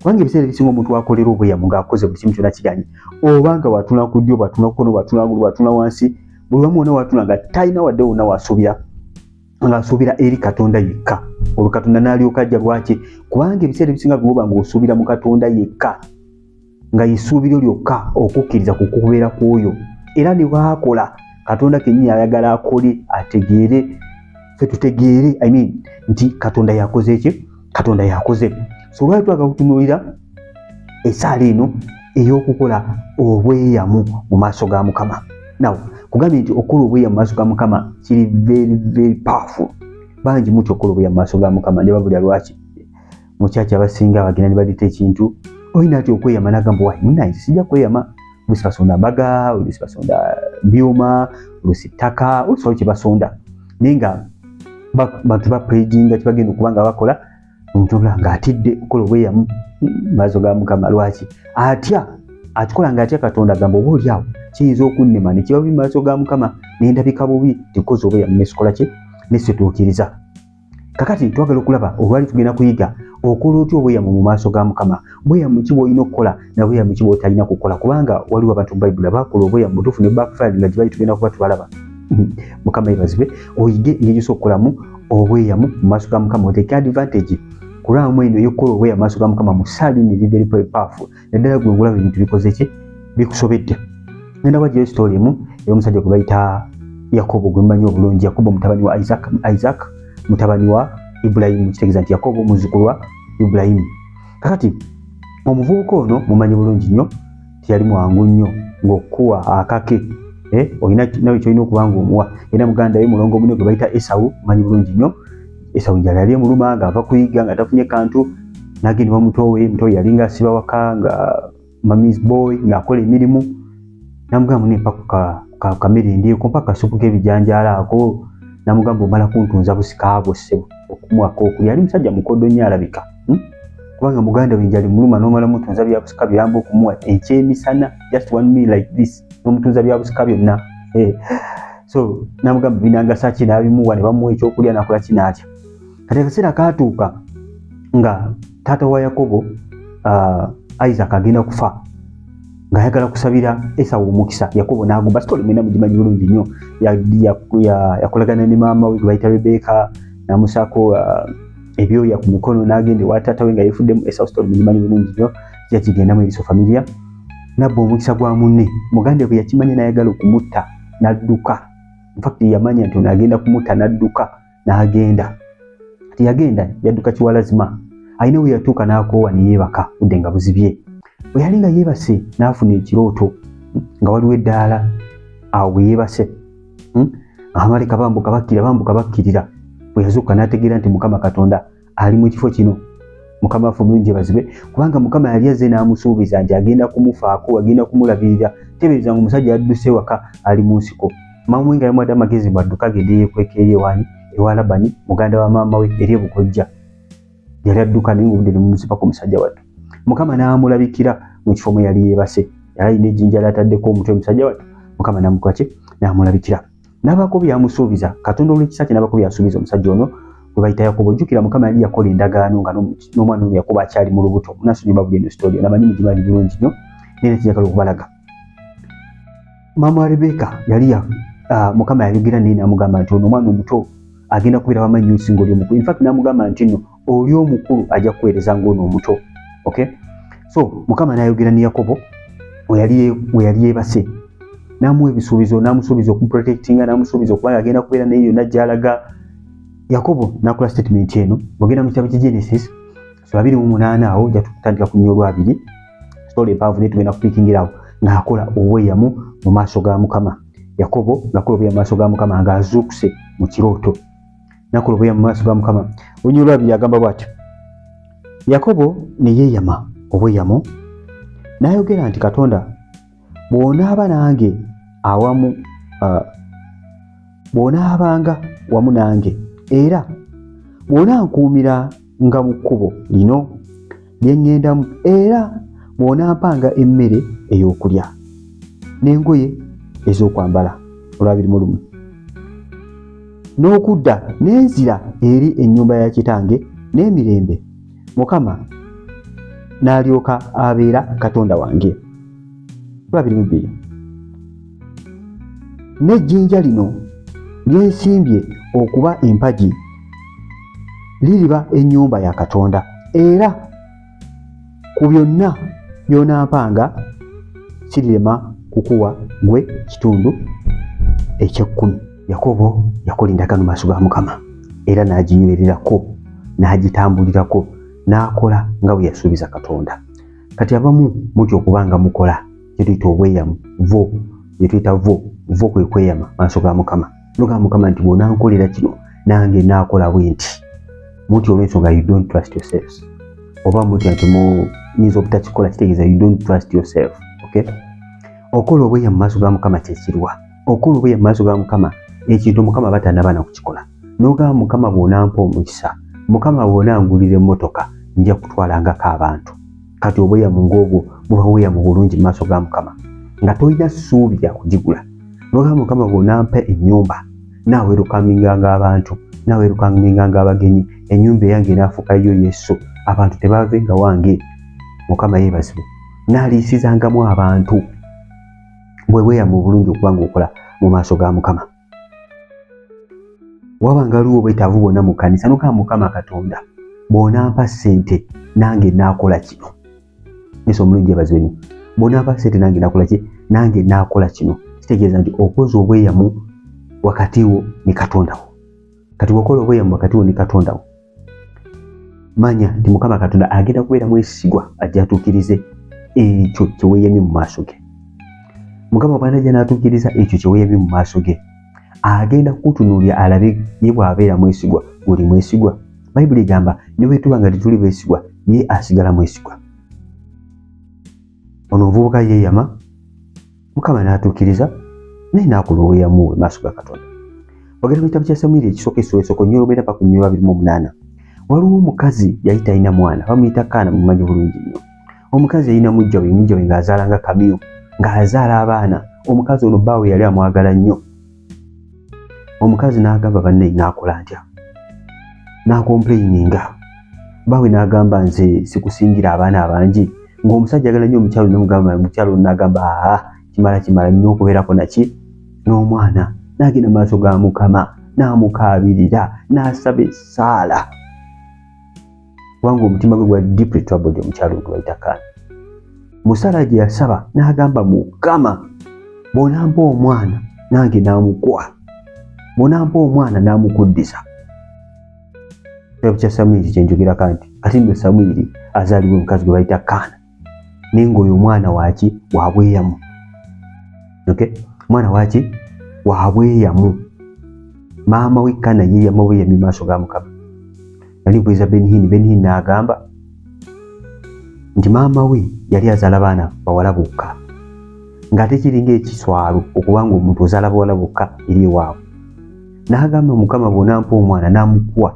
kubanga ebiseera ebisinga omuntu akolera obweyamo ng'akoze buli kimu kyona kiganye oba nga watuna ku ddyo bwatuna kukono bwatuna gulu bwatuna wansi buli wamu wona watuna nga talina wadde wonna wasuubira ng'asuubira eri katonda yekka olwo katonda n'alyoka ajja lwaki kubanga ebiseera ebisinga byoba ng'osuubira mu katonda yekka nga yesuubiro lyokka okukkiriza ku kubeera kw'oyo era ne bwakola katonda kennyini ayagala akole ategeere fe tutegeere i mean nti katonda yakoze ekyo katonda yakoze so lwali twaga kutunuulira esaala eno ey'okukola obweyamu mu maaso ga mukama naw kugambye nti okukola obweyamu mu maaso ga mukama kiri very very powerful bangi mutya okukola obweyamu mu maaso ga mukama ne babulya lwaki mukyaki abasinga bagenda ne balita ekintu olina ti okweyama nagamba wayi munaye sijja kweyama olusi basonda mbaga olusi basonda byuma olusi ttaka olusi wali kyebasonda naye nga bantu bapredinga kyebagenda okuba nga bakola omuntu obula nga atidde okukola obweyamu maaso ga mukama lwaki atya akikola nga atya katonda agamba oba olyawo kiyinza okunnema nekiba bubi maaso ga mukama nendabika bubi tikozi obweyamu nesikola kye nesituukiriza kakati twagala okulaba olwali tugenda kuyiga okola otya obweyamu mu maaso ga mukama bweyamu ki bwolina okukola na bweyamu ki bwotalina kukola kubanga waliwo abantu bayibuli abakola obweyamu butuufu ne backfire nga gyebali tugenda kuba tubalaba hmm. mukama yebazibwe oyige engeri gyose okukolamu obweyamu mu maaso ga mukama oteeke advantage kulwamu eno eyokukola obweyamu maaso ga mukama mu saalini eri very powerful naddala gwe ngulaba ebintu bikoze ki bikusobedde ngenda wajjayo sitoli emu ey'omusajja gwe bayita yakobo gwe mumanyi obulungi yakobo mutabani wa isaac isaac mutabani wa ibulayimu kitegeeza nti yakobo muzzukulu wa ibulayimu kakati omuvubuka ono mumanyi bulungi nnyo teyali mwangu nnyo ng'okukuwa akake eh, olina nawe kyolina okuba ngaomuwa era muganda we mulongo mune gwe bayita esawu manyi bulungi nnyo esawo njala yali emuluma nga ava kuyiga nga tafunye kantu nagenda bamutowe mutowe yali nga asiba waka nga mamis boy ngaakola emirimu namugamba mune mpa kamere endyeko mpaka kasupu kebijanjaala ako namugamba omala kuntunza busikaabwo ssebo okumwaka okulya ali musajja mukodo nyo alabika hmm? kubanga muganda wenjali muluma nomala mutunza byabusika byamba okumuwa ekyemisana just one me like this nomutuuza byabusika byonna eh. so namugamba binangasa ki nabimuwa ne bamuwa ekyokulya nakola ki natya kati akaseera katuuka nga taata wa yakobo uh, isaac agenda kufa ng'ayagala kusabira esawo omukisa yakobo n'agumba sitole mwena mugimanyi bulungi nnyo yakolagana ne maama we gwebayita rebeka namusaako uh, ebyoya ku mukono n'agenda ewa taata we nga yefuddemu esawo sitole mugimanyi bulungi nnyo yakigendamu eriso familia nabba omukisa gwa munne muganda bwe yakimanya nayagala okumutta nadduka infact yamanya nti ono agenda kumutta nadduka nagenda ati yagenda yadduka kiwalazima alina we yatuuka n'akoowa ne yeebaka budde nga buzibye bwe yali nga yeebase n'afuna ekirooto nga waliwo eddaala awo bwe yeebase hmm? abamaleka bambuka bakkirira bambuka bakkirira bwe yazuuka n'ategeera nti mukama katonda ali mu kifo kino mukama waffe omulungi bazibe kubanga mukama yali azze n'amusuubiza nti agenda kumufaako agenda kumulabirira tebeereza nga omusajja yadduse waka ali mu nsiko maama we nga yamuwadde amagezi bwadduka agende yeekweka eri ewani ewa labani muganda wa maama we eri ebukojja yali adduka naye ngaobudde nemumuzibako omusajja wattu mukama n'amulabikira mu kifo mwe yali yeebase yali alina ejjinja lyataddeko omutwe omusajja wattu mukama namukolaki n'amulabikira nabako byamusuubiza katonda olwekisa kye nabako byasuubiza omusajja ono gwe bayita yakobo ojjukira mukama yali yakola endagaano nga n'omwana ono yakobo akyali mu lubuto munasonyi babuli eno sitoli ono amanyi mugimanyi bulungi nnyo naye nekijagala okubalaga maama rebeka yali ya ah, mukama yayogera naye namugamba nti ono omwana omuto agenda kubeera wamanyi nyo osinga oli omukulu infact namugamba nti no oli omukulu ajja kuweereza ng'ono omuto okay so mukama n'ayogera ne yakobo we yali yeebase n'amuwa ebisuubizo n'amusuubiza okuprotectinga n'amusuubiza okuba nga agenda kubeera naye yonna gy'alaga yakobo n'akola statement eno bwogenda mu kitabo kye genesis so abiri mu munaana awo ja tutandika ku nnya olwabiri story empaavu naye tugenda kupikingirawo ng'akola obweyamu mu maaso ga mukama yakobo ng'akola obweyamu mu maaso ga mukama ng'azuukuse mu kirooto nakulubuya mu maaso ga mukama olunyumu lwabiri agamba bwati yakobo neyeyama obweyamo nayogera nti katonda bwonaaba nange awamu uh, bwonaabanga wamu nange era bwonankuumira nga mu kkubo lino lye ŋŋendamu era mw'onampanga emmere ey'okulya n'engoye ez'okwambala olwabiri mu lumu n'okudda n'enzira eri ennyumba ya kitange n'emirembe mukama n'alyoka abeera katonda wange olwabiri mu bbiri n'ejjinja lino lyensimbye okuba empagi liriba ennyumba ya katonda era ku byonna byonampanga kirirema kukuwa gwe kitundu ekyekkumi yakobo yakola endagaano maaso ga mukama era n'aginywererako n'agitambulirako n'akola nga bwe yasuubiza katonda kati abamu mutya okuba nga mukola kyetuyita obweyamu vo yetuyita vo vo kwe kweyama maaso ga mukama noga mukama nti bwonankolera kino nange nakola bwe nti muti olwensonga you don't trust yourselves oba muti nti muyinza obutakikola kitegeeza you don't trust yourself okay okola obweyamu maaso ga mukama kyekirwa okola obweyamu maaso ga mukama ekintu mukama batanabaana kukikola noga mukama bwonampa omukisa mukama bwonangulira emotoka nja kutwalangako abantu kati obweyamu ng'obwo buba bweyamu bulungi mu maaso ga mukama nga tolina ssuubi lya kugigula nogamba mukama bw'onampa ennyumba naawerukambinganga abantu naawerukambinganga abagenyi ennyumba eyange enaafuuka yo yesu abantu tebaave nga wange mukama yeebazibwe naaliisizangamu abantu bwe bweyamu obulungi okuba ng'okola mu maaso ga mukama waba nga luwo bwetaavu bwona mu kanisa nokaba mukama katonda bwonampa sente nange nakola kino nesa omulungi yabazweni bwonampa sente nange nakola ki nange nakola kino kitegeeza nti okoza obweyamu wakati wo ne katonda wo kati wakola obweyamu wakati wo ne katonda wo manya nti mukama katonda agenda kubeera mwesigwa ajja atuukirize ekyo kyeweyamye mu maaso ge mukama bwanajja n'atuukiriza ekyo kyeweyamye mu maaso ge agenda kukutunuulira alabe ye bw'abeera mwesigwa oli mwesigwa bayibuli egamba ne bwetuba nga tetuli beesigwa ye asigala mwesigwa ono omuvubuka yeeyama mukama n'atuukiriza naye n'akulowooyamu we maaso ga katonda ogenda mu kitabo kya samwiri ekisooka essula esooka onyolo obeera paka onyolo abiri mu omunaana waliwo omukazi yali talina mwana bamuyita kaana mumanyi bulungi nnyo omukazi yalina mujja we mujja we ng'azaala nga kamiyo ng'azaala abaana omukazi ono bbaawe yali amwagala nnyo omukazi n'agamba banne naakola ntya n'akompuleyininga baawe n'agamba nze sikusingira abaana abangi ng'omusajja agala nnyo omukyalo nomugamba mukyalo n'agamba aa kimala kimala nnyo okubeerako naki n'omwana n'agenda mu maaso ga mukama n'amukaabirira n'asaba essaala kubanga omutima gwe gwali deeply troubled omukyalo gwebayita kaana musala gye yasaba n'agamba mukama bwonampa omwana nange namukuwa bwonampa omwana namukuddiza ekya samwiri kyenjogerako nti ate nno samwiri azaaliwo omukazi gwe bayita kaana naye ngaoyo omwana waki wabweyamu okay? omwana waki wabweyamu maama we kana ye yamubweyami maaso ga mukama nali bweza benhin benhin naagamba nti maama we yali azaala baana bawala bokka ng'ate kiringa ekiswalo okuba nga omuntu ozaala bawala bokka eri ewaabwe n'agamba mukama bw'onampa omwana n'amukuwa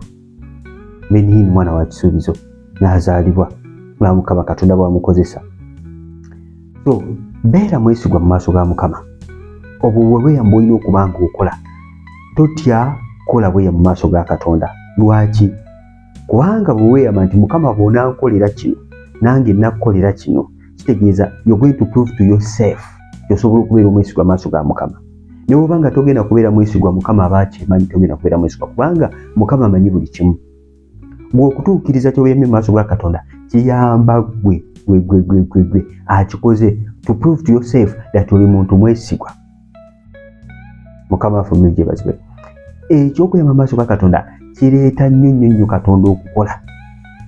benihin mwana wa kisuubizo n'azaalibwa nga mukama katonda bwamukozesa so beera mwesigwa mu maaso ga mukama obwo bwebweyamba olina okuba nga okola totya kola bweya mu maaso ga katonda lwaki kubanga bweweyama nti mukama bwonankolera kino nange nakukolera kino kitegeeza you're going to prove to yourself osobola okubeera omwesigwa maaso ga mukama ne bwoba nga togenda kubeera mwesigwa mukama aba akimanyi togenda kubeera mwesigwa kubanga mukama amanyi buli kimu gwe okutuukiriza kyoyemye mu maaso ga katonda kiyamba gwe gwegwegwegwegwe akikoze to prove to yourself that oli muntu mwesigwa mukama waffe omuli gyebazibwe ekyokuyamba maaso ga katonda kireeta nnyo nnyo nnyo katonda okukola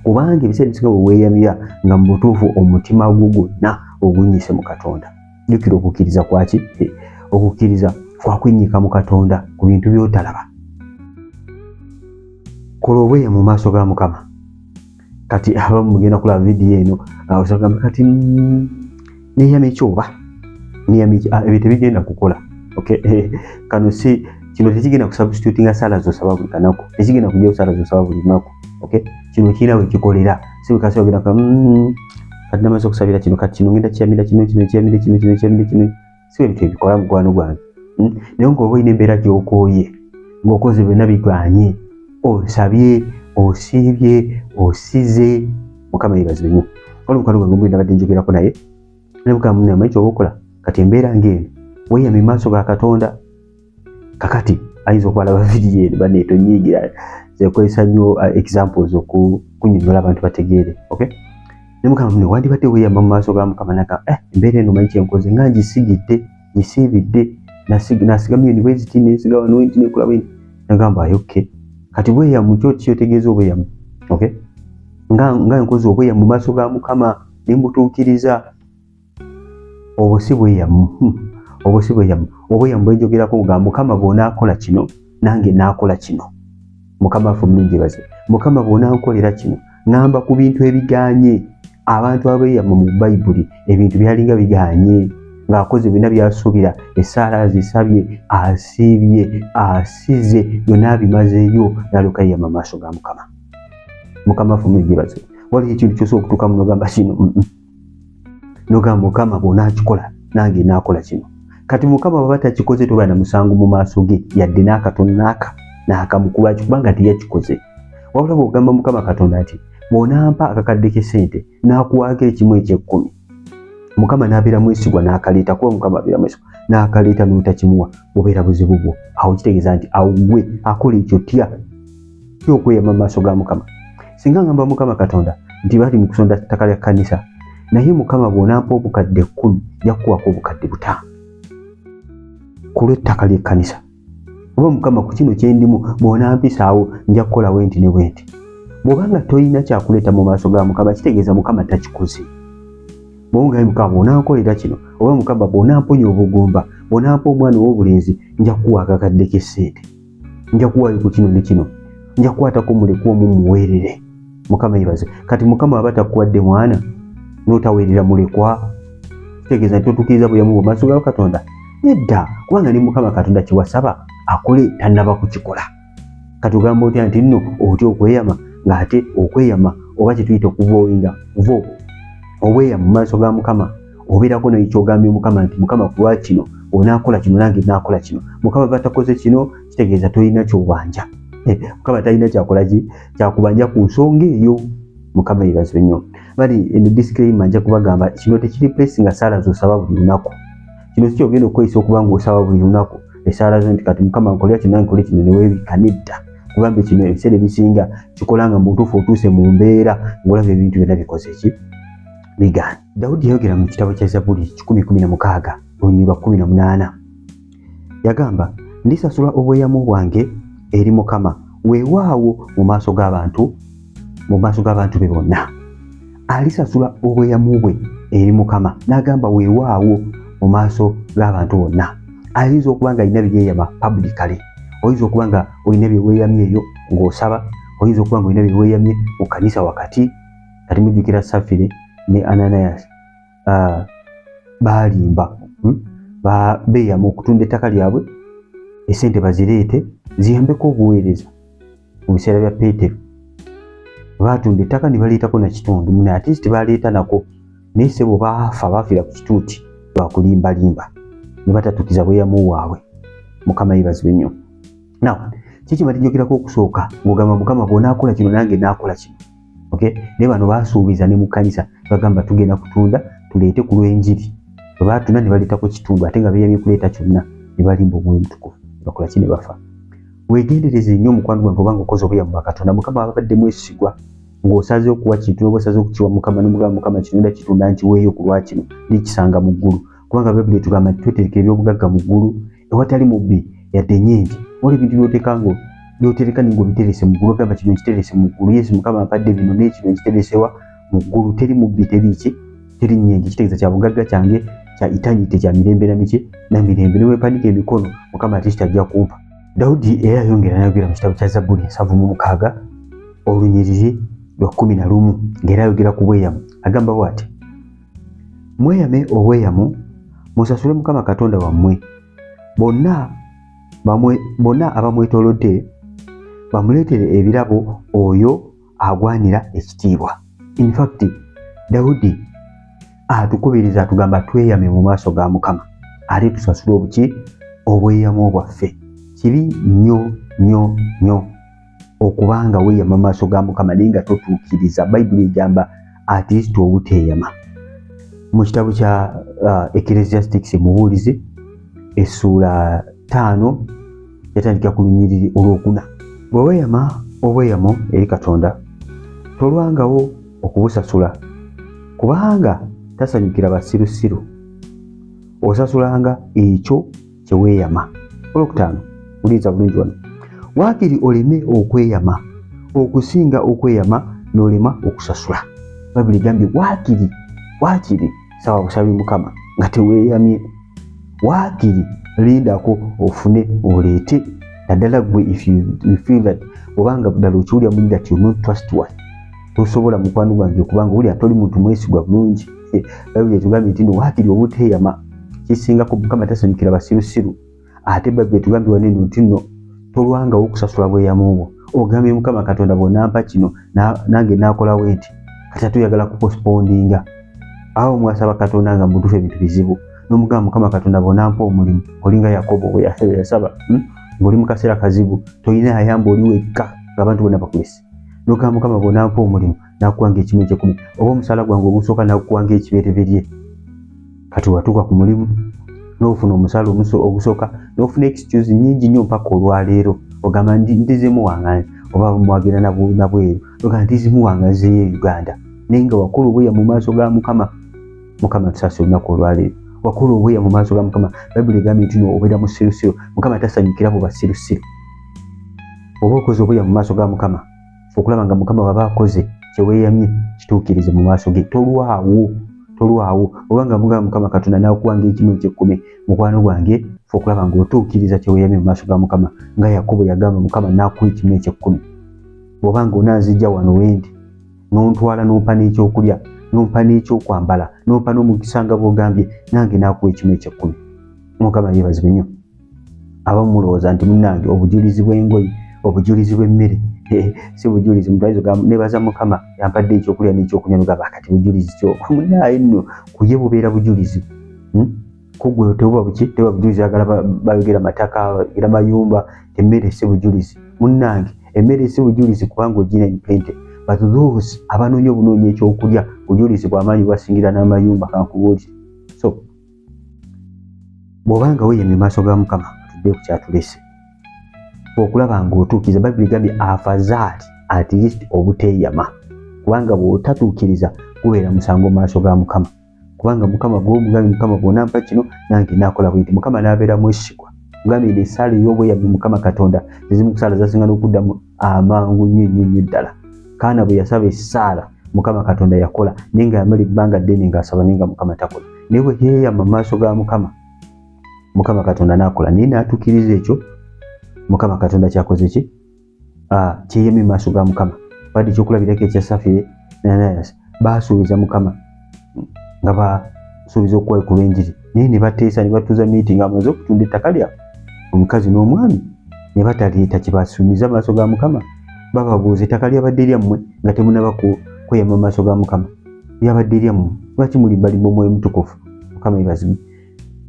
kubanga ebiseera ebisinga bwe weeyamira nga mu butuufu omutima gwo gwonna ogunyise mu katonda jukira okukkiriza kwaki okukkiriza kwakwennyika mu katonda ku bintu byotalaba kola obweya mu maaso ga mukama kati abamu mugenda kulaba vidiyo eno osagamba kati mm, neyama ekyoba neyama ah, ebyo tebigenda kukola eh, kano si kino tekigenda kusubstitutinga sala zosaba buli kanaku tekigenda kujao sala zosaba buli lunaku okay kino kira we kikolera siwe kasi ogera ka mm, kati namaze okusabira kino kati kino ngenda kiyamira kino kino kiyamira kino kino kiyamira kino siwe ebintu ebikola mukwano gwange hmm? naye nga oba olina embeera gyokooye ng'okoze byonna biganye osabye osiibye osize mukama yebazibe nyo wali mukwano gwange omuli nabadde njogerako naye naye mukama munne amanyi kyoba okola kati embeera ng'eno weyame maaso ga katonda kakati ayinza okuba laba vidiyo eri bane tonyiigira zekozesa nnyo uh, examples okunyonyola abantu bategeere ok nemugamba mune wandibadde weyamba mu maaso ga mukama naga eh, embeera eno manyi kyenkoze nga ngisigidde ngisiibidde nasigamu university nensiga wano nti nekola bwenti nagamba ayo ok kati bweyamu kyo kyotegeeza obweyamu ok nga nkoze obweyamu mu maaso ga mukama nembutuukiriza obwo si bweyamu hmm. obwo si bweyamu obweyamu bwenjogerako nga mukama bwonaakola kino nange naakola kino mukama afe omulungi baze mukama bwonankolera kino ŋamba ku bintu ebiganye abantu abeyamu mu bayibuli ebintu byalinga biganye ng'akoze byonna byasuubira essaala azisabye asiibye asize byonna abimazeeyo nalyoka yeyama maaso ga mukama mukama afe omulungi baze waliyo ekintu kyosa okutuuka munogamba kino nogamba mukama bwonakikola nange nakola kino kati mukama baba takikoze toba na musango mu maaso ge yadde n'akatono naaka naakamu kulwaki kubanga teyakikoze wabula bwogamba mukama katonda nti bwonampa akakadde kesente nakuwaako ekimu ekyekkumi mukama nabeera mwesigwa nakaleeta kuba mukama abeera mwesigwa nakaleeta notakimuwa obeera buzibu bwo awo kitegeeza nti awugwe akola ekyo tya kyokweyama mu maaso ga mukama singa ngamba mukama katonda nti bali mu kusonda ttaka lya kkanisa naye mukama bw'onampa obukadde kkumi yakuwako obukadde butaano ku lw'ettaka ly'ekkanisa oba mukama ku kino kye ndimu bw'onampisaawo nja kukola wenti ne bwenti bw'obanga tolina kyakuleeta mu maaso ga mukama kitegeeza mukama takikoze bwongaye mukama bw'onankolera kino oba mukama bw'onamponya obugumba bw'onampa omwana ow'obulenzi nja kukuwa akakadde k'essente nja kuwaayo ku kino ne kino nja kukwatako mulekwa omu muweerere mukama yebaze kati mukama aba takuwadde mwana n'otaweerera mulekwa kitegeeza nti totukiriza bulamu bwo maaso ga katonda nedda kubanga ne mukama katonda kyewasaba akole tannaba kukikola kati ogamba otya nti nno otya okweyama ng'ate okweyama oba kyetuyita okuvoinga vo obweya mu maaso ga mukama obeerako naye kyogambye mukama nti mukama kulwa kino onaakola kino nange naakola kino mukama batakoze kino kitegeeza tolina kyobanja eh, mukama talina kyakolaki kyakubanja ku nsonga eyo mukama yebazibe nnyo bali eno disclaima nja kubagamba kino tekiri place nga saala zosaba buli lunaku kino si kyogenda okukozesa okuba nga osaba buli lunaku esaala zo nti kati mukama nkolera kino nange nkole kino newebika nedda kubanga kino ebiseera ebisinga kikola nga mubutuufu otuuse mu mbeera ngaolaba ebintu byonna bikoze ki bigaana dawudi yayogera mu kitabo kya zabuli 116 olunyiri lwa 18 yagamba ndisasula obweyamu bwange eri mukama weewaawo mu maaso g'abantu mu maaso g'abantu be bonna alisasula obweyamu bwe eri mukama n'agamba weewaawo mu maaso g'abantu bonna ayinza okuba nga alina biyeeyama publicale oyinza okuba nga olina byeweeyamyeeyo ng'osaba oyinza okuba nga olina byeweeyamye mu kanisa wakati kati mujjukira safire ne ananias uh, balimba hmm? beeyama okutunda ettaka lyabwe esente bazireete ziyambeko obuweereza mu biseera bya peetero baatunda ettaka ne baleetako na kitundu mune ate kiti baleeta nako naye sebo baafa baafiira ku kituuti lwakulimbalimba ne batatukiza bweyamu waabwe mukama yebazibe nnyo naw kyekyo batijogerako okusooka ng'ogamba mukama bw'onaakola kino nange naakola kino okay ne bano basuubiza ne mu kanisa bagamba tugenda kutunda tuleete ku lw'enjiri bwe batunda ne baleetako kitundu ate nga beeyamye kuleeta kyonna ne balimba omwoyo omutukuvu ne bakola ki ne bafa weegendereze nnyo omukwano gwange obanga okoze obuya mu bakatonda mukama ababadde mwesigwa ng'osaze okuwa kintu noba osaze okukiwa mukama nomugamba mukama kino nda kitunda nkiweeyo ku lwakino nekisanga mu ggulu kubanga bayibuli etugamba nti tweterekera ebyobugagga mu ggulu ewatali mubbi yadde nyingi oli bintu byoteka ngo byotereka ningo biterese mu gulu kama kino kiterese mu gulu yesu mukama apadde bino ne kino kiteresewa mu gulu teri mubbi teri ki teri nyingi kitegeza kya bugagga kyange kya itanyi te kya mirembe na miche na mirembe ne wepanike emikono mukama atishita ajja kumpa daudi era yongera nayogera mu kitabo kya zabuli ensavu mu mukaaga olunyiriri lwa kumi na lumu ng'era ayogera ku bweyamu agamba bwati Mweyame obweyamo musasule Mukama Katonda wammwe. Bonna bamwe bonna abamwetolodde bamuleetere ebirabo oyo agwanira ekitiibwa. In fact, Daudi atukubiriza atugamba tweyame mu maaso ga Mukama ate tusasule obuki obweyamo bwaffe. Kibi nnyo nnyo nnyo. okuba nga weeyama mu maaso ga mukama naye nga totuukiriza bayibuli egamba at least obuteeyama mu kitabo kya uh, ecclesiastics mubuulizi essuula ttaano yatandikira ku lunyiriri olwokuna bwe weeyama obweyamo eri katonda tolwangawo okubusasula kubanga tasanyukira basirusiru osasulanga ekyo kye weeyama olwokutaano uliza bulungi wano waakiri oleme okweyama okusinga okweyama n'olema okusasula bayibuli egambye waakiri waakiri saba busabi mukama nga teweeyamye waakiri lindako ofune oleete naddala gwe if you feel that obanga ddala okiwulira muli that you not trustworthy tosobola mukwano gwange kubanga wulira toli muntu mwesigwa bulungi bayibuli etugambye nti no waakiri obuteeyama kisingako mukama tasanyukira basirusiru ate bayibuli etugambye wano eno nti no tolwangawo okusasula bweyamu bwo ogambye mukama katonda bwonampa kino nange nakolawo enti kati atuyagala kupospondinga awo mwasaba katonda nga mutuufu ebintu bizibu nomugamba mukama katonda bwonampa omulimu olinga yakobo weyasaba hmm? ngaoli mu kaseera kazibu tolina yayamba oli wekka ngaabantu bona bakulese nogamba mukama bwonampa omulimu nakuwa ngaekimu ekyekumi oba omusaala gwange ogusooka nakuwa ngaekibereberye kati watuuka ku mulimu nofuna omusaala ogusooka nofuna excuse nyingi nyo mpaka olwaleero ogamba ndizimu wange oba mwagenda nabweru ogamba ndizimu wange nzeyo e uganda naye nga wakulu obuya mu maaso ga mukama mukama tusasa olunaku olwaleero wakulu obuya mu maaso ga mukama bayibuli egambye nti no obeera musirusiru mukama tasanyukira mu basirusiru oba okoze obuya mu maaso ga mukama okulaba nga mukama baba akoze kyeweyamye kituukirize mu maaso ge tolwawo tolwawo oba nga mugamba mukama katonda nakuwanga ekimu ekyekkumi mukwano gwange fe okulaba nga otuukiriza kyeweyamye mu maaso ga mukama nga yakobo yagamba mukama nakuwa ekimu ekyekkumi bwoba nga onanzijja wano wendi nontwala nompa n'ekyokulya nompa n'ekyokwambala nompa n'omukisa nga bwogambye nange nakuwa ekimu ekyekkumi mukama yebazibwe nnyo abamu mulowooza nti munange obujulizi bw'engoye obujulizi bw'emmere si bujulizi mutwaizogamu nebaza mukama yampadde ekyokulya n'ekyokunywa nogamba kati bujulizi kyo munaye nno kuye bubeera bujulizi hmm? kugwe teba buki teba bujulizi agala bayogera mataka era mayumba emmere si bujulizi munnange emmere si bujulizi kubanga ogina empente but those abanoonya obunoonya ekyokulya bujulizi bwamaanyi bwasingira n'amayumba kankubuulire bw'oba nga weyemye maaso ga mukama tudde ku kyatulese okulaba ng'otuukiriza bayibuli egambye afazaali at least obuteeyama kubanga bw'otatuukiriza gubeera musango mu maaso ga mukama kubanga mukama gwomugambi mukama bwonampa kino nange nakola bwinti mukama nabeera mwesigwa ngambye esaala ey'obweyabbi mukama katonda ezimukusaala zasinga n'okuddamu amangu nnyo nnyo nnyo ddala kaana bwe yasaba essaala mukama katonda yakola naye nga yamala ebbanga ddene ng'asaba naye nga mukama takola naye bwe yeeyama mu maaso ga mukama mukama katonda n'akola naye n'atuukiriza ekyo mukama katonda kyakoze ki ah, kyeyamye mu maaso ga mukama badde ekyokulabirako ekya safi nanayas baasuubiza mukama nga basuubiza okukwekula enjiri naye ne bateesa ne batuuza miitingi amaze okutunda ettaka lyabwe omukazi n'omwami ne bataleeta kibasuumiza maaso ga mukama bababuuza ettaka lyabadde lyammwe nga temunaba kweyama maaso ga mukama lyabadde lyammwe lwaki mulimbalimba omwoyo mutukufu mukama ebazima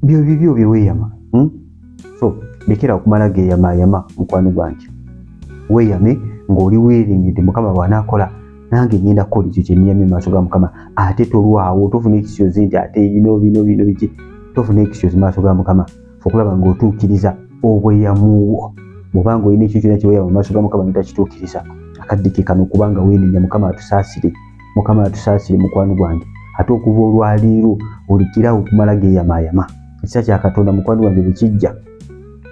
byo bibyo bye weyama hmm? so lekera okumala geyamayama mukwano gwange weyame ng'oli weeringidde mukama bw'anaakola nange ngenda kukola ekyo kyeniyamye maaso ga mukama ate tolwawo tofuna ekisyozi nti ate bino bino bino biki tofuna ekisyozi maaso ga mukama okulaba ng'otuukiriza obweyamuwo bwobanga olina ekyo kyona kyeweyama maaso ga mukama notakituukiriza akaddike kano kubanga weenenya mukama atusaasire mukama yatusaasire mukwano gwange ate okuva olwaleero olikirawo okumala geyamayama ekisa kya katonda mukwano gwange bwekijja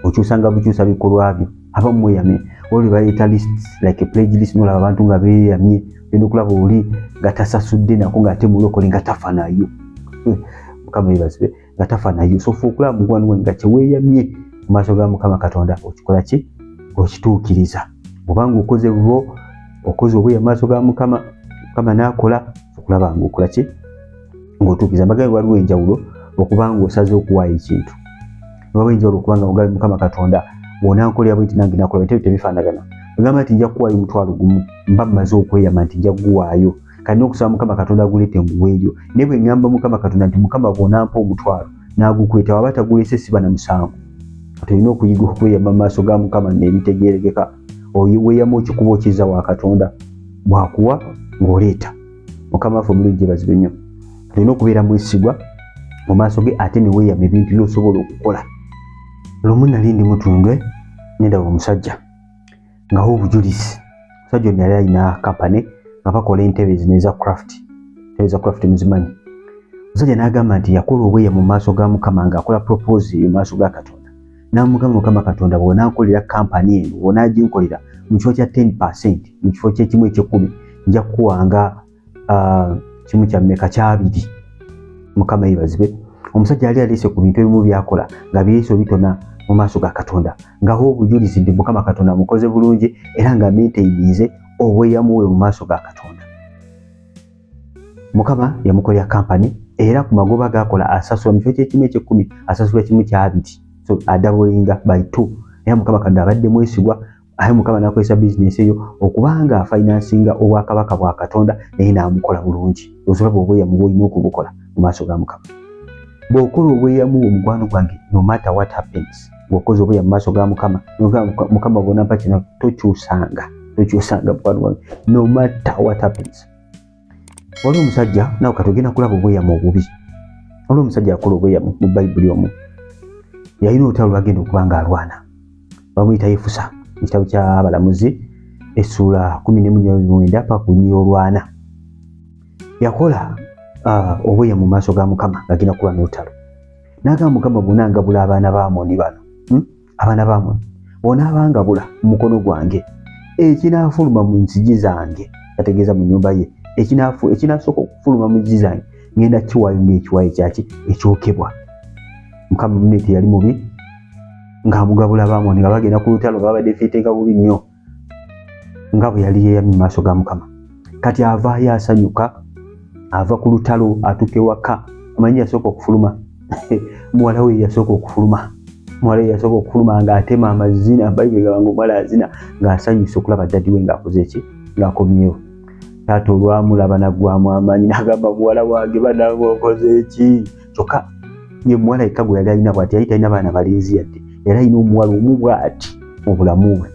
okyusanga bukyusa bikolwa byo aba mweyame oli bayita list like pledge list nolaba abantu nga beyamye genda okulaba oli nga tasasudde nako ngaate mulokole nga tafanayo eh, mukama yebasibe nga tafa nayo sofa okulaba mukwano gwange nga kyeweyamye mu maaso ga mukama katonda okikola ki okituukiriza obanga okoze bubo okoze obuya maaso ga mukama mukama naakola okulaba nga okola ki ng'otuukiriza mbagabe waliwo enjawulo okuba nga osaze okuwaayo ekintu waliwo enjawulo okubanga mugabe mukama katonda wonankolera bwe nti nange nakola bitebyo tebifaanagana ogamba nti nja kuwaayo omutwalo gumu mba mmaze okweyama nti nja kuguwaayo kani okusaba mukama katonda agulete enguweeyo naye bwe ŋŋamba mukama katonda nti mukama bw'onampa omutwalo n'agukweta waba tagulese siba na musango kati olina okuyiga okweyama mu maaso ga mukama n'ebitegeerekeka weeyama okikuba okiza wa katonda bwakuwa ng'oleeta mukama waffe omulungi bazibu nnyo olina okubeera mwesigwa mu maaso ge ate ne weeyama ebintu by'osobola okukola lumu nali ndi mutundwe nendaba omusajja nga ho obujulizi musajja ono yali alina kampani nga bakola entebe zino eza craft entebe za craft muzimanyi musajja n'agamba nti yakola obweya mu maaso ga mukama nga akola propose mu maaso ga katonda n'amugamba mukama katonda bw'onankolera kampani eno bw'onaginkolera mu kifo kya 10 percent mu kifo ky'ekimu eky'ekkumi nja kukuwanga ah, kimu kya mmeka kyabiri mukama yebazibwe omusajja yali aleese ku bintu ebimu byakola nga byeso bitona mu maaso ga katonda ngaho obujulizi nti mukama katonda amukoze bulungi era nga menteyinize obweyamuwe mu maaso ga katonda mukama yamukolera kampani era ku magoba gakola asasula mu kifo kyekimu ekyekkumi asasula kimu kyabiri so adabulinga by two era mukama katonda abadde mwesigwa aye mukama nakozesa bizinesi eyo okubanga afinansinga obwakabaka bwa katonda naye namukola bulungi ozola bwobweyamu bwolina okubukola mu maaso ga mukama bwokola obweyamu omukwano gwange no matter what happens bwokoza obweya mu maaso ga mukama mukama bwonampa kino tokyusanga tokyusanga mukwano gwange no matter what happens waliwo omusajja nawe kati ogenda kulaba obweyamu obubi waliwo omusajja akola obweyamu mu bayibuli omu yalina olutalo lwagenda okuba nga alwana bamuyita yefusa mu kitabo kyabalamuzi essuula kumi nemunyamwenda pakunyi olwana yakola ah, obweya mu maaso ga mukama agenda kuba n'olutalo n'agamba mukama bona ngabula abaana ba amoni bano hmm? abaana bamwe bw'onaabangabula mu mukono gwange ekinaafuluma mu nzigi zange ategeeza mu nyumba ye ekinaasooka okufuluma mu nzigi zange ngenda kiwayo ngaekiwayo kyaki ekyokebwa mukama mune teyali mubi ngaamugabula bamoni nga bagenda ku lutalo babadde fitega bubi nnyo nga bwe yali yeeyamye mu maaso ga mukama kati avaayo asanyuka ava ku lutalo atuuka ewaka amanyi yasooka okufuluma muwala we yasooka okufuluma muwala we yasooka okufuluma ng'atema amazina bayibuli gaba nga omuwala azina ng'asanyusa okulaba ddadi we ng'akoze ki ng'akomyewo taata olwamulaba naggwamu amaanyi nagamba muwala wange banange okoze ki kyokka ye muwala yekka gwe yali alina bwati yali talina baana balinzi yadde yali alina omuwala omu bwati mu bulamu bwe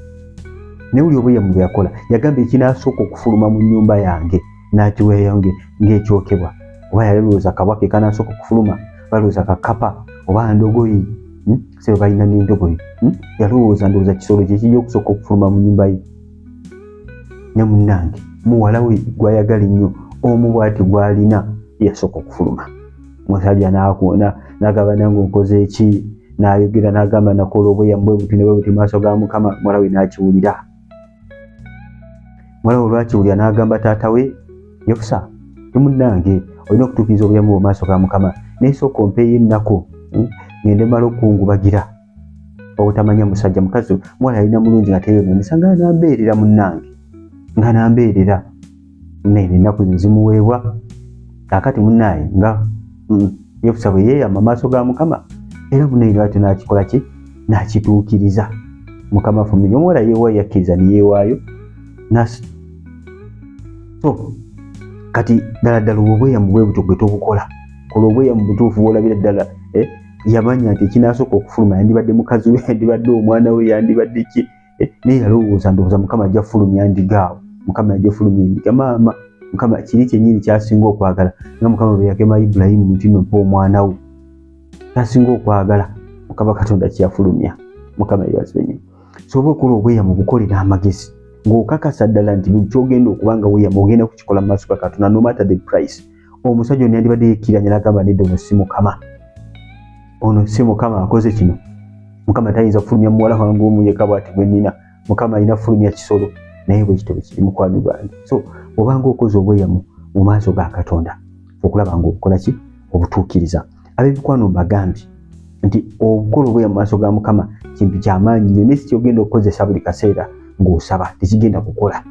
naye buli obuyamu bwe yakola yagamba ekinasooka okufuluma mu nnyumba yange n'akiweeyo ng'ekyokebwa oba yali lowooza kabaka ekanasooka okufuluma balowooza kakapa oba ndogoyi hmm? sebe balina n'endogoyi hmm? yalowooza ndowooza kisolo kyekijja okusooka okufuluma mu nnyumba ye ne munnange muwala we gwayagala ennyo omu bwati gwalina yasooka okufuluma musajja nakuona nagamba nange okoze eki nayogera nagamba nakola obuyamu bwe buti nebwe buti maaso ga mukama muwala we nakiwulira muwala we olwakiwulira nagamba taata we yokusa ne munnange olina okutuukiriza obuyamu bwe maaso ga mukama naye sooka ompeeyo ennaku hmm? ngende mala okukungubagira obutamanya musajja mukazi mwala yalina mulungi nga teyono misanga nambeerera munnange nga nambeerera nene ennaku zimuweebwa kakati munnaye nga mm, yefusa bwe yeeyama maaso ga mukama era munaire atyo nakikola ki nakituukiriza mukama fumiri omuwala yeewaayo yakkiriza neyeewaayo so kati ddala ddala obwobweyamu bwebutyo gwe tobukola kola obweyamu butuufu bwolabira ddala eh? yamanya nti ekinasooka okufuluma yandibadde mukazi we yandibadde omwana we yandibadde ki eh, naye yalowooza ndowooza mukama ajja fulumya ndigaawo mukama yajja fulumya endiga maama mukama kiri kyenyini kyasinga okwagala nga mukama bweyagema ibulayimu nti nompa omwana wo kyasinga okwagala mukama katonda kyeyafulumya mukama yebazibenye soba okola obweya mu bukolera amagezi ng'okakasa ddala nti buli kyogenda okuba nga weyamu ogenda kukikola mu maaso ga katonda no matter the price omusajja ono yandibadde yekkiranya n'agamba nedda ono si mukama ono si mukama akoze kino mukama tayinza kufulumya muwala wange omu yekka bwati gwe nnina mukama alina kufulumya kisolo naye bwe kitebe kiri mukwano gwange so obanga okoze obweyamu mu maaso ga katonda okulaba nga obukola ki obutuukiriza ab'emikwano mbagambye nti obukola obweya mu maaso ga mukama kintu kyamaanyi nyo naye sikyogenda okukozesa buli kaseera ng'osaba tekigenda kukola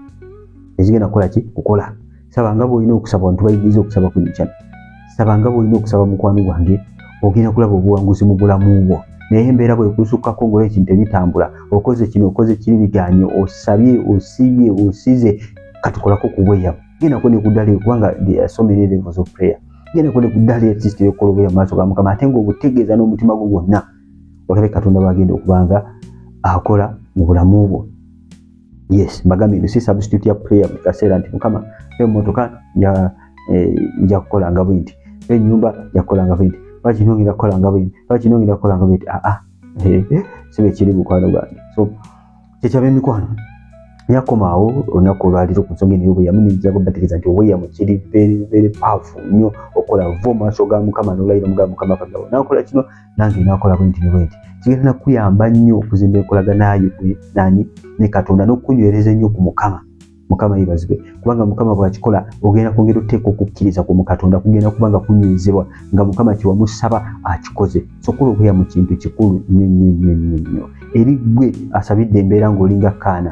tekigenda kukola ki kukola saba nga bwolina okusaba bantu bayigiriza okusaba ku ekyana saba nga bwolina okusaba mukwano gwange ogenda kulaba obuwanguzi mu bulamu bwo naye embeera bwekusukkako ngaola ekintu ebitambula okoze kino okoze kiri biganye osabye osibye osize katukolako kubweya gendako nekudala kubanga so many levels of prayer gendako nekudala esisita yokukola obweya mumaaso ga mukama ate nga obutegeeza n'omutima gwo gwonna olabe katonda bagenda okubanga akola mu bulamu bwo yes mbagambye nti si substitute ya prayer mu kaseera nti mukama emmotoka eh, nja kukola nga bwinti ennyumba yakukola nga bwinti lwaki nongera kukola nga bwinti lwaki nongera kukola nga bwinti aa ah, ah, eh, si bwe kiri mukwano gwange so kyekyaba emikwano yakomaawo olunaku olwaliro ku nsonga eno y'obweyamu nejjago bategeeza nti obweyamu kiri very very powerful nnyo okola va mu maaso ga mukama n'olayira mu ga mukama kagabo nakola kino nange nakola bwenti ne bwenti kigenda nakuyamba nnyo okuzimba enkolagana yo nani ne katonda n'okukunywereza ennyo ku mukama mukama yebazibwe kubanga mukama bwakikola ogenda kwongera oteeka okukkiriza ku mukatonda kugenda kubanga kunywezebwa nga mukama kyewamusaba akikoze sokola obuya mu kintu kikulu nnyo nnyo nnyo nnyo nnyo eri ggwe asabidde embeera ng'olinga kaana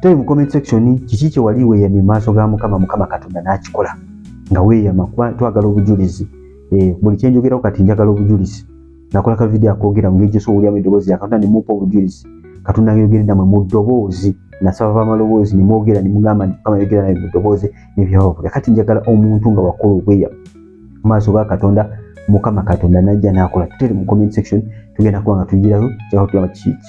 tell mu comment section kiki kye wali weeyamye mu maaso ga mukama mukama katonda n'akikola nga weeyama kuba twagala obujulizi eh, buli kye njogerako kati njagala obujulizi nakola ka vidiyo akoogera mu ngeri gyosa owulyamu eddoboozi ya katonda ne mupa obujulizi katonda ayogere namwe mu ddoboozi nasaba bamaloboozi ne mwogera ne mugamba nti mukama ayogera naye mu ddoboozi ne byababula kati njagala omuntu nga wakola obweyamu mu maaso ga katonda mukama katonda najja nakola tutere mu comment section tugenda kuba nga tuyigirayo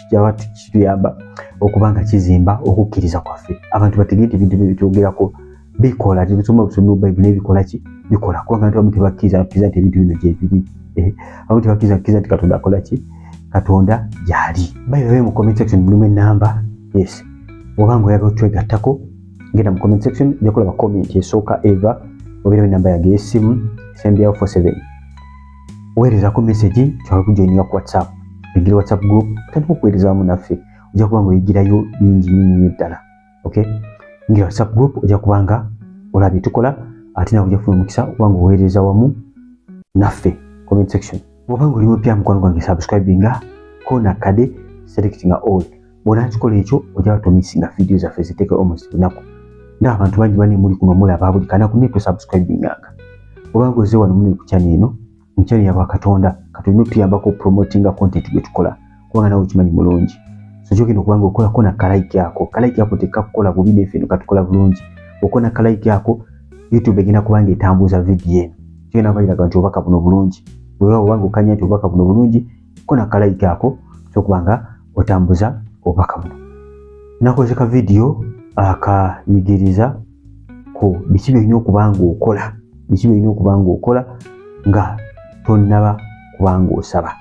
kyaba kituyamba okuba nga kizimba okukkiriza kwaffe abantu bategee ti bintu byebitwogerako bikola tebisoma busomi mu bayibuli ebikola ki bikola kubanga abantu abamu tebakkiriza bakkiriza nti ebintu bino gyebiri eh, abamu tebakkiriza bakkiriza nti katonda akola ki katonda gyali bayibabe mu comment section mulimu enamba yes obanga oyagala twegattako genda mu comment section ojja kulaba comment esooka eva obeerawo enamba yange ey'essimu esembyawo 47 weerezako message tusobola kujoininga ku whatsapp engeri whatsapp group otandika okuweerezaamu naffe ojja kuba nga oyigirayo bingi nyinyi ddala okay ngeri whatsapp group ojja kuba nga olaba byetukola ate nawe ojja kufuna omukisa okuba nga oweereza wamu naffe comment section oba nga oli mupya mukwano gwange subscribinga kona kade selectinga all bwonakikola ekyo ojaba tomisinga vidiyo zaffe ziteeke almost lunaku nga abantu bangi bane muli kuno mulaba buli kanaku naye tosubscribinganga obanga oze wano mune ku channel eno mu channel yabwa katonda katulina otuyambako promotinga content gwe tukola kubanga nawe okimanyi mulungi so kyogenda okubanga okolako na kalaiki ako kalaiki ako tekakukola bubi nefe eno katukola bulungi okona kalaiki ako youtube egenda kubanga etambuuza vidiyo eno kyogenda kubairaga nti obubaka buno bulungi wewa obanga okanya nti obubaka buno bulungi kona kalayika ako kyokuba nga otambuza obubaka buno nakoze ka vidiyo akayigiriza ku biki byolina okuba nga okola biki byolina okuba nga okola nga tonnaba kuba nga osaba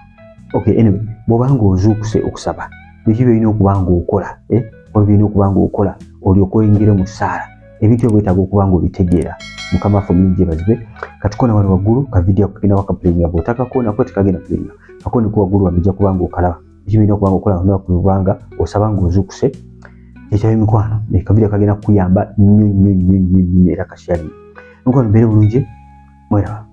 okay anyway bwoba nga ozuukuse okusaba biki byolina okuba nga okola eh? olwo byolina okuba nga okola olyoka oyingire mu ssaala ebintu ebyo bwetaaga okuba nga obitegeera mukama waffe omulimu gyebazibwe katukona wano waggulu ka vidiyo kagenda wakapulinga bwotakakona kuba tekagenda pulinga kakoni ku waggulu wano ojja kubanga okalaba ekyo birina okubanga okola lunaku lubanga osaba nga ozuukuse ekyayo emikwano ekavidiyo kagenda kukuyamba nnyo nnyo nnyo nnyo nnyo era kasyalinga emikwano mbeere bulungi mweraba